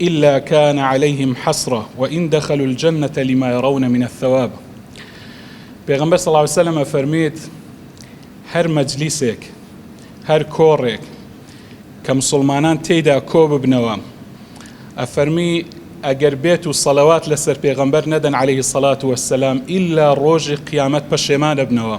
الا کان علیهم حسرە وان دخلوا الجنە لما یرون من الثواب پێغەمبەر صلی اللە علیە وسلم ئەفەرموێت هەر مەجلیسێک هەر کۆڕێک کە مسلمانان تێیدا کۆ ببنەوە ئەفەرمی ئەگەر بێت و سەلەوات لەسەر پێغەمبەر نەدەن عليه سەلات وەسەلام ئللا ڕۆژی قیامەت پەشێمانە بنەوە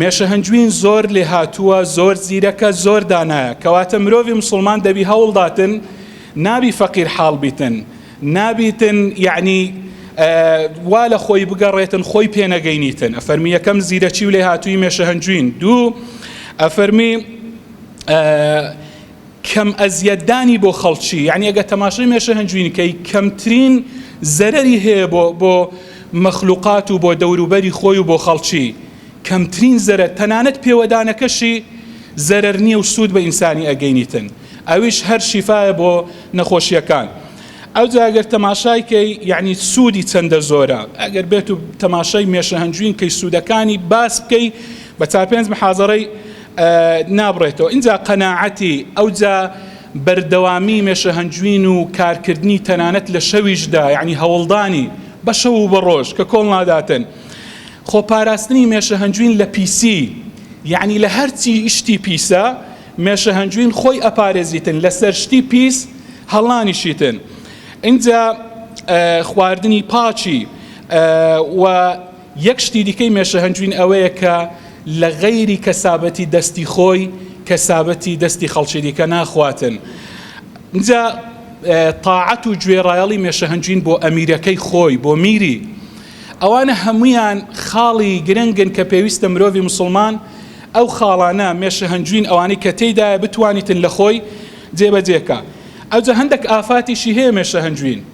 مێشە هەنجوین زۆر لێهاتووە زۆر زیرەکە زۆر دانایە کەواتە مرۆڤی مسوڵمان دەبی هەوڵداتن نابی فەقیر حاڵ بیتن نابیتن یعنی وا لە خۆی بگەڕێتن خۆی پێنەگەینیتن ئەفەرمی یەکەم زیرەکی و لێهاتووی مێشە هەنجوین دوو ئەفەرمی کەم ئەزیەت دانی بۆ خەڵکی یانی ئەگە تەماشەی مێشە هەنجوین کەی کەمترین زەرەری هەیە بۆ بۆ مەخلوقات و بۆ دەوروبەری خۆی و بۆ خەڵکی کەمترین زەرەر تەنانەت پێوەدانەکەشی زەرەر نییە و سوود بە ئینسانی ئەگەینیتن ئەویش هەر شیفاە بۆ نەخۆشیەکان ئەو جاگەر تەماشای کەی یعنی سوودی چەندە زۆرە ئەگەر بێت و تەماشای مێشە هەنجوین کەی سوودەکانی باس بکەی بە چار پێنج محازەڕی نابڕێتەوە ئینجا قەناعەتی ئەوجا بەردەوامی مێشەهەنجوین و کارکردنی تەنانەت لە شەویشدا یعنی هەوڵدانی بە شەو و بە ڕۆژ کە کۆڵ ناداتن خۆپاراستنی مێشەهەنجوین لە پیسی یعنی لە هەرچی شتی پیسە مێشەهەنجوین خۆی ئەپارێزیتن لەسەر شتی پیس هەڵانیشیتن ئینجا خواردنی پاکی و یەک شتی دیکەی مێشە هەنجوین ئەوەیە کە لە غەیری کەسابەتی دەستی خۆی کەسابەتی دەستی خەڵکی دیکە ناخواتن جا تاعەت و گوێڕایەڵی مێشە هەنجوین بۆ ئەمیرەکەی خۆی بۆ میری ئەوانە هەمویان خاڵی گرنگن کە پێویستە مرۆڤی مسلمان ئەو خاڵانە مێشە هەنجوین ئەوانەی کە تێدایە بتوانیتن لە خۆی جێبەجێکە ئەوجە هەندێک ئافاتیشی هەیە مێشە هەنجوین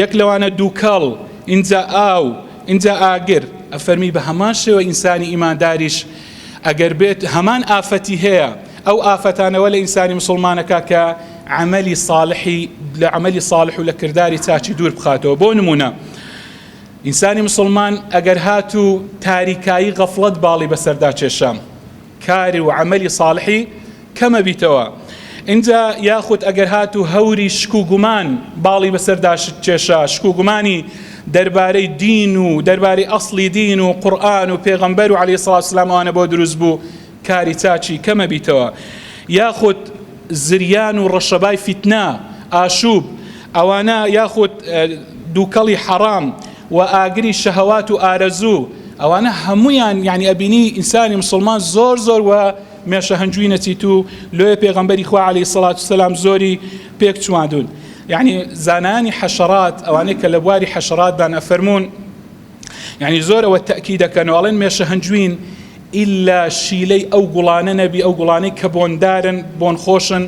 یەک لەوانە دووکەڵ، ئینجا ئاو، ئینجا ئاگر. ئەفەرمی بە هەمان شێوە ئینسانی ئیمانداریش ئەگەر بێت هەمان ئافەتی هەیە، ئەو ئافەتانە وە لە ئینسانی موسڵمانەکە کە عەمەلی ساڵحی لە عەمەلی ساڵح و لە کرداری چاکی دوور بخاتەوە بۆ نموونە ئینسانی موسڵمان ئەگەر هاتوو تاریکایی غەفڵەت باڵی بەسەردا کێشا، کار و عەمەلی ساڵحی کەمە بیتەوە ئینجا یاخود ئەگەر هاتوو هەوری شک و گومان باڵی بەسەردا شت کێشا شک و گومانی دەربارەی دین و دەربارەی ئەسڵی دین و قورئان و پێغەمبەر و عەلەیهی سڵاوت سلام ئەوانە بۆ دروست بوو کاری چاچی کەمە بیتەوە یاخود زریان و ڕەشەبای فیتنە ئاشوب ئەوانە یاخود دووکەڵی حەڕام و ئاگری شەهەوات و ئارەزوو ئەوانە هەموویان یانی ئەبینی ئینسانی مسلمان زۆر زۆر و مێشە هەنجووی نەچیت و لۆیە پێغەمبەری خوا عەلی سەڵات سەسلام زۆری پێک چواندون یعنی زانانی حەشەڕات ئەوانەی کە لە بواری حەشەڕاتدان ئەفەرمونون یعنی زۆرەوە تەکی دەکەنەوەڵێن مێشە هەنجوین ئللا شیلەی ئەو گوڵانە نەبی ئەو گوڵانەی کە بۆندارن بۆن خۆشن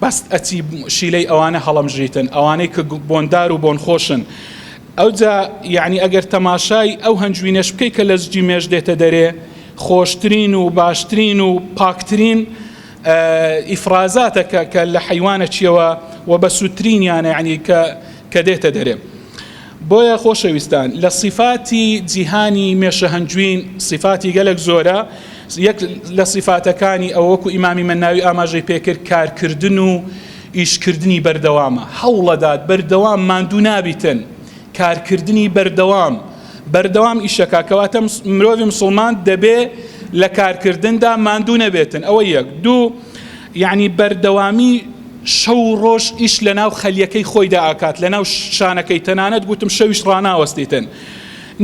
بەس ئەچی شیلەی ئەوانە هەڵەمژیتن ئەوانەی کە بۆندار و بۆنخۆشن ئەوجا یعنی ئەگەر تەماشای ئەو هەنجوینەش بکەی کە لە زجی مێش دێتە دەرێ خۆشترین و باشترین و پاکترین ئیفرازاتەکە کە لە حیوانە چیەوە و بە سوودترینیانە یعنی کە کە دێتە دەرێ بۆیە خۆشەویستان لە سیفاتی جیهانی مێشە هەنجوین سیفاتی گەلەک زۆرە یەک لە سیفاتەکانی ئەو وەکو ئیمامی مەناوی ئاماژەی پێکرد کارکردن و ئیشکردنی بەردەوامە هەوڵەدات بەردەوام ماندوو نابیتن کارکردنی بەردەوام بەردەوام ئیشەکە کەواتە مرۆڤی مسلمان دەبێ لە کارکردندا ماندوو نەبێتن ئەوە یەک دوو یەعنی بەردەوامی شەو و ڕۆژ ئیش لەناو خەلیەکەی خۆیدا ئاکات لەناو شانەکەی تەنانەت گوتم شەویش ڕاناوەستیتن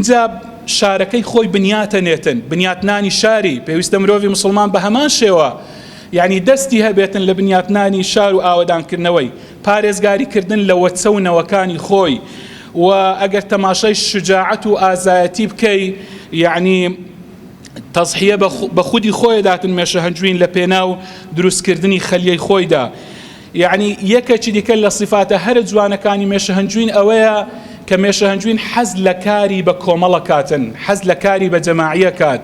جا شارەکەی خۆی بنیاتە نێتن بنیاتنانی شاری پێویستە مرۆڤی مسلمان بە هەمان شێوە یعنی دەستی هەبێتن لە بنیاتنانی شار و ئاوەدانکردنەوەی پارێزگاری کردن لە وەچە و نەوەکانی خۆی و ئەگەر تەماشای شجاعەت و ئازایەتی بکەی یعنی تەزحیە بە خودی خۆی داتن مێشە هەنجوین لە پێناو دروستکردنی خەلیەی خۆیدا یعنی یەکەکی دیکە لە سیفاتە هەرە جوانەکانی مێشە هەنجوین ئەوەیە کە مێشە هەنجوین حەز لە کاری بە کۆمەڵە کاتن حەز لە کاری بە جەماعیە کات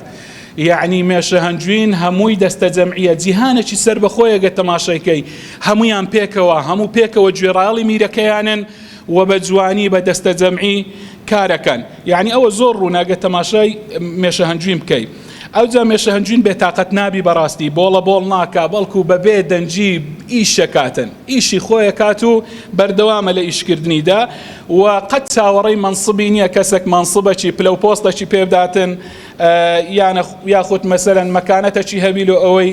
یعنی مێشە هەنجوین هەمووی دەستە جەمعیە جیهانەکی سەر بەخۆیەگە تەماشایکەی هەمویان پێکەوە هەموو پێکەوە گوێڕاڵی میرەکەیانن و بە جوانی بە دەستەجەمعی کارەکەن یعنی ئەوە زۆر ڕوونە گە تەماشای مێشە هەنجوین بکەی ئەوجا مێشە هەنجوین بێتاقەت نابی بەڕاستی بۆڵە بۆڵ ناکا بەڵکو بەبێ دەنجی ئیشەکاتن ئیشی خۆیە کات و بەردەوامە لە ئیشکردنیدا و قەت چاوەڕی مەنسبی نییە کەسێک مەنسبەکی پلە و پۆستەکی پێبداتن یانە یاخود مەسەرەن مەکانەتەکی هەبی لۆ ئەوەی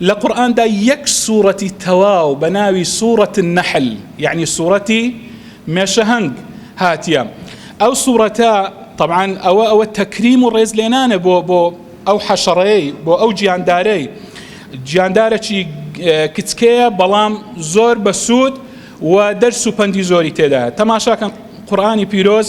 لە قورئاندا یەک سوڕەتی تەواو بە ناوی سوڕەت النحل یعنی سوڕەتی مێشەهەنگ هاتیە ئەو سوڕەتە طبعاان ئەوە ئەوە تەکریم و ڕێز لێنانە بۆ بۆ ئەو حەشەڕەیە بۆ ئەو گیاندارەی گیاندارەی کچکەیە بەڵام زۆر بەسوود و دەرس و پەندی زۆری تێدا تەماشاکەن قورآانی پیرۆز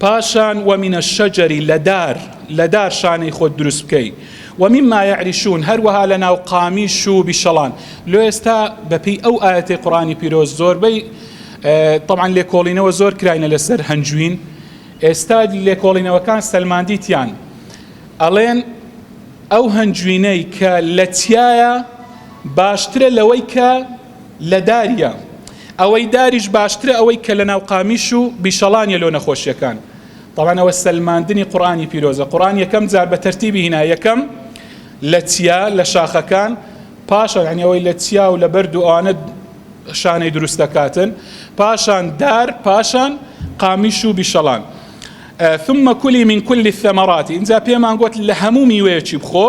پاشان و من الشجر لە دار لە دار شانەی خۆت دروست بکەی و مما یعرشون هەروەها لە ناو قامیش و بیشەڵان لۆ ئێستا بەپی ئەو ئاەتی قڕانی پیرۆز زۆربەی طبعا لێکۆڵینەوە زۆر کراینە لەسەر هەنجوین ئێستا لێکۆڵینەوەکان سەلماندیتیان ئەڵێن ئەو هەنجوینەی کە لە تایە باشترە لەوەی کە لە داریە ئەوەی داریش باشترە ئەوەی کە لە ناو قامیش و بیشەڵانیە لۆ نەخۆشیەکان تاوانەوە سەلماندنی قڕانی پیرۆزە قڕان یەکەم جار بە تەرتیبی هینا یەکەم لە چیا لە شاخەکان پاشە یعنیەوەی لە چیا و لە بەرد و ئەوانە شانەی دروست دەکاتن پاشان دار پاشان قامیش و بیشەڵان ثم کلی من کلی الثمرات اینجا پێمان گوت لە هەموو میوەیەکی بخۆ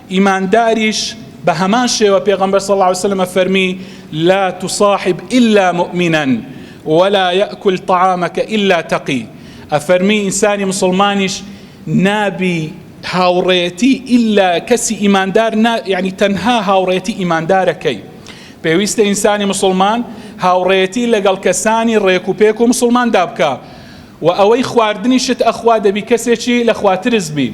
ئیمانداریش بە هەمان شێوە پێغەمبەر صلی اللە علیە وسلم ئەفەرمی، لا تصاحب الا مؤمنا ولا یأکل طعامک الا تقی، ئەفەرمی ئینسانی موسڵمانیش نابی هاوڕێیەتی الا کەسی ئیماندار نا یەعنی تەنها هاوڕێیەتی ئیماندارەکەی، پێویستە ئینسانی موسڵمان هاوڕێیەتی لەگەڵ کەسانی ڕێک و پێک و موسڵماندا بکا و ئەوەی خواردنیشت ئەخوا دەبی کەسێکی لە خوا ترس بی.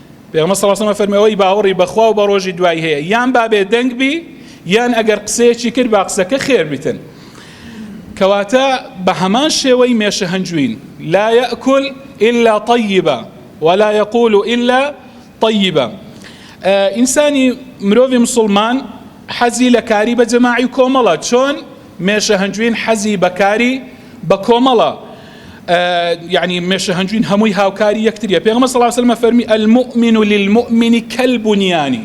پێغەمبەر صلی اللە علیە و سلم فەرمی ئەوەی باوەڕی بەخوا و بە ڕۆژی دوایی هەیە یان با بێ دەنگ بی یان ئەگەر قسەیەکی کرد با قسەکە خێر بیتن کەواتە بە هەمان شێوەی مێشە هەنجوین لا یەکل إلا طیبە ولا یقول إلا طیبە ئینسانی مرۆڤی مسلمان حەزی لە کاری بە جەماعی کۆمەڵە چۆن مێشە هەنجوین حەزی بە کاری بە کۆمەڵە یعنی مێشە هەنجوین هەمووی هاوکاری یەکتریە پێغمە سەڵاو سلمە فەرمی المؤمن و للمؤمنی کەلبنیانی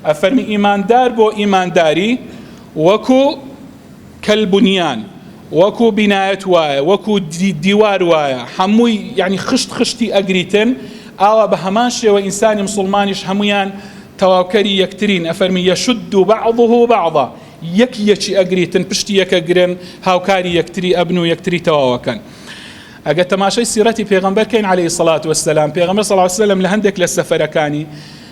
ئەفەرمی ئیماندار بۆ ئیمانداری وەکو کەلبنیان وەکو بینایەت وایە وەکو دیوار وایە هەمووی یعنی خشت خشتی ئەگریتن ئاوا بە هەمان شێوە ئینسانی مسلمانیش هەمویان تەواوکەری یەکترین ئەفەرمی یەشد و بعضه بعضا یەک یەکی ئەگریتن پشتی یەکە گرن هاوکاری یەکتری ئەبن و یەکتری تەواوەکەن ئەگە تەماشای سیرەتی پێغەمبەر کەین عەلەیهی سەڵات وەسەلام پێغەمبەر سەڵا سەلەم لە هەندێک لە سەفەرەکانی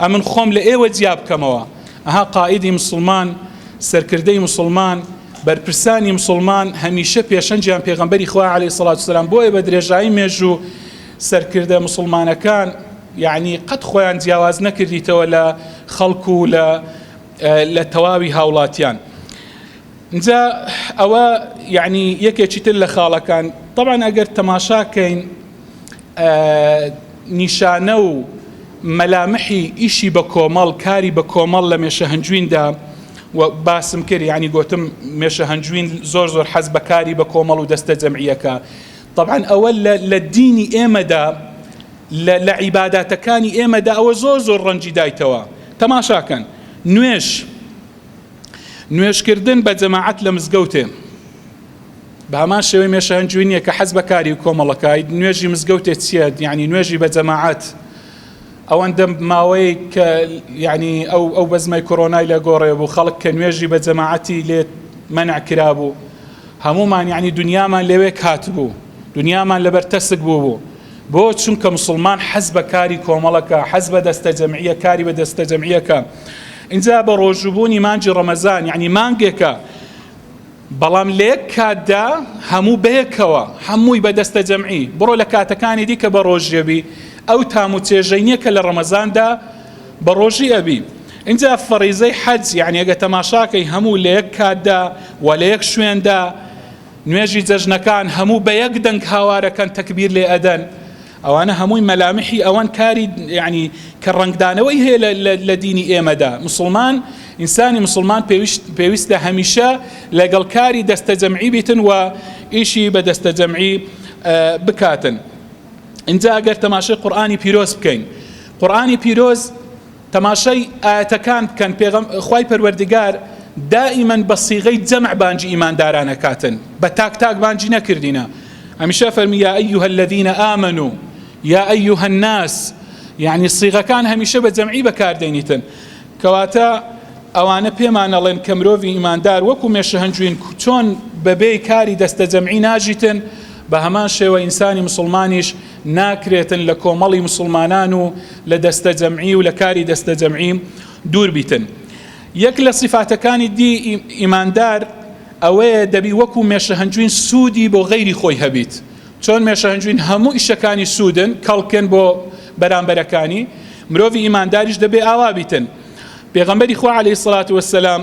ئەمن خۆم لە ئێوە جیا بکەمەوە. ئەها قائیدی موسڵمان، سەرکردەی موسڵمان، بەرپرسانی موسڵمان هەمیشە پێشەنگیان پێغەمبەری خوایە علیە سڵات وسلام بۆیە بە درێژایی مێژوو سەرکردە موسڵمانەکان یعنی قەت خۆیان جیاواز نەکردیتەوە لە خەڵک و لە لە تەواوی هاوڵاتیان. ئینجا ئەوە یعنی یەکێکی تر لە خاڵەکان طبعا ئەگەر تەماشاکەین نیشانە و مەلامحی ئیشی بە کۆمەڵ کاری بە کۆمەڵ لە مێشە هەنجویندا و باسم کرد ینی گوتم مێشە هەنجوین زۆر زۆر حەز بەکاری بە کۆمەڵ و دەستە جەمعیەکە طبعا ئەوە لە دینی ئێمەدا لە عیباداتەکانی ئێمەدا ئەوە زۆر زۆر ڕەنجی دایتەوە تەماشاکەن نوێش نوێژکردن بە جەماعەت لە مزگەوتێ بە هەمان شێوەی مێشە هەنجوی نییە کە حەز بەکاری و کۆمەڵەکای نوێژی مزگەوتێ چییە یعنی نوێژی بە جەماعەت ئەوەندە ماوەی کە یعنی ئەو ئەو بەزمای کۆرۆنای لە گۆڕێ بوو خەڵک کە نوێژی بە جەماعەتی لێت منع کرابوو هەمومان یعنی دنیامان لەوێ کات بوو دنیامان لەبەر تەسک بوو بوو بۆ چونکە مسلمان حەز بە کاری کۆمەڵەکە حەز بە دەستە جەمعیە کاری بە دەستە جەمعیەکە ئینجا بە ڕۆژوو بوونی مانگی ڕەمەزان یەعنی مانگێکە بەڵام لە یەک کاتدا هەموو بەیەکەوە هەمووی بە دەستە جەمعی بڕۆ لە کاتەکانی دیکە بە ڕۆژیەبی ئەو تام و چێژەی نییە کە لە ڕەمەزاندا بە ڕۆژی ئەبی اینجا فەڕیزەی حەج یعنی ئەگە تەماشاکەی هەموو لە یەک کاتدا و لە یەک شوێندا نوێژی جەژنەکان هەموو بە یەک دەنگ هاوارەکەن تەکبیر لێ ئەدەن ئەوانە هەمووی مەلامحی ئەوەن کاری یعنی کە ڕەنگدانەوەی هەیە لە دینی ئێمەدا مسلمان ئینسانی مسلمان پێویستە هەمیشە لەگەڵ کاری دەستە جەمعی بیتن و ئیشی بە دەستە جەمعی بکاتن اینجا ئەگەر تەماشای قورآانی پیرۆز بکەین قورآانی پیرۆز تەماشای ئایەتەکان بکەن، پێغەم، خوای پەروەردگار دائیمەن بە صیغەی جەمع بانگی ئیمانداران ئەکاتن، بە تاک تاک بانگی نەکردینە، هەمیشە ئەفەرمی یا ایها الذین آمنو یا ایها الناس، یەعنی صیغەکان هەمیشە بە جەمعی بەکاردێنیتن، کەواتە ئەوانە پێمان ئەڵێن کە مرۆڤی ئیماندار وەکو مێشە هەنجوین چۆن بەبێی کاری دەستە جەمعی ناژیتن، بە هەمان شێوە ئینسانی مسوڵمانیش، ناکرێتن لە کۆمەڵی مسوڵمانان و لە دەستەجەمعی و لە کاری دەستەجەمعی دوور بیتن یەک لە سیفاتەکانی دی ئیماندار ئەوەیە دەبی وەکو مێشەهەنجوین سوودی بۆ غەیری خۆی هەبیت چۆن مێشەهەنجوین هەموو ئیشەکانی سوودن کەڵکن بۆ بەرامبەرەکانی مرۆڤی ئیمانداریش دەبێ ئاوا بیتن پێغەمبەری خوا عەلەیهی سڵات وەسەلام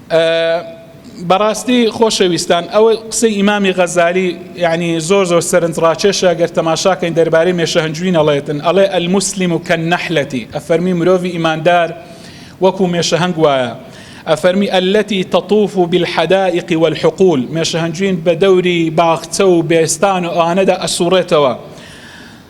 بەڕاستی خۆشەویستان ئەوە قسەی ئیمامی غەزالی یعنی زۆر زۆر سەرنج ڕاکێشە گەر تەماشاکەین دەربارەی مێشەهەنجوین ئەڵێتن ئەڵێ المسلم و کەن نەحلەتی ئەفەرمی مرۆڤی ئیماندار وەکو مێشەهەنگ وایە ئەفەرمی ئەلەتی تەطوف و بالحدائق والحقول مێشەهەنجوین بە دەوری باخچە و بێستان و ئەوانەدا ئەسوڕێتەوە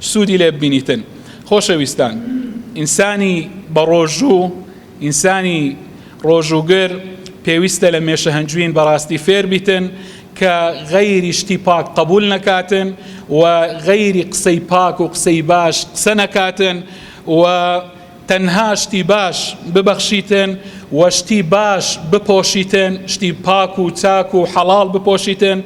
سوودی لێ ببینیتن خۆشەویستان ئینسانی بەڕۆژوو ئینسانی ڕۆژووگر پێویستە لە مێشە هەنجوین بەڕاستی فێر بیتن کە غەیری شتی پاک قبول نەکاتن و غەیری قسەی پاک و قسەی باش قسە نەکاتن و تەنها شتی باش ببەخشیتن و شتی باش بپۆشیتن، شتی پاک و چاک و حەڵاڵ بپۆشیتن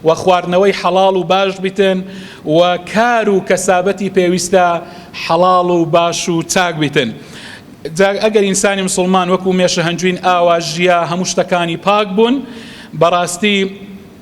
و خواردنەوەی حەڵاڵ و باش بیتن و کار و کەسابەتی پێویستە حەڵاڵ و باش و چاک بیتن. جا ئەگەر ئینسانی مسوڵمان وەکو مێشە هەنجوین ئاوا ژیا هەموو شتەکانی پاک بوون بەڕاستی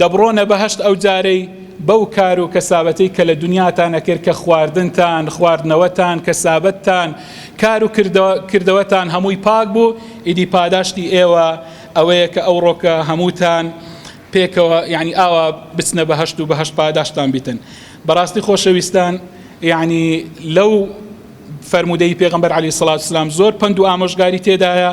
دەبڕۆنە بەهەشت ئەو جارەی بەو کار و کەسابەتەی کە لە دونیاتان ئەکرد کە خواردنتان، خواردنەوەتان، کەسابەتتان، کار و کردەوەتان هەمووی پاک بوو، ئیدی پاداشتی ئێوە ئەوەیە کە ئەوڕۆ کە هەمووتان پێکەوە یەعنی ئاوا بچنە بەهەشت و بەهەشت پاداشتتان بیتن. بەڕاستی خۆشەویستان یەعنی لەو فەرموودەی پێغەمبەر عەلەیهی سڵاوت وسلام زۆر پەند و ئامۆژگاری تێدایە،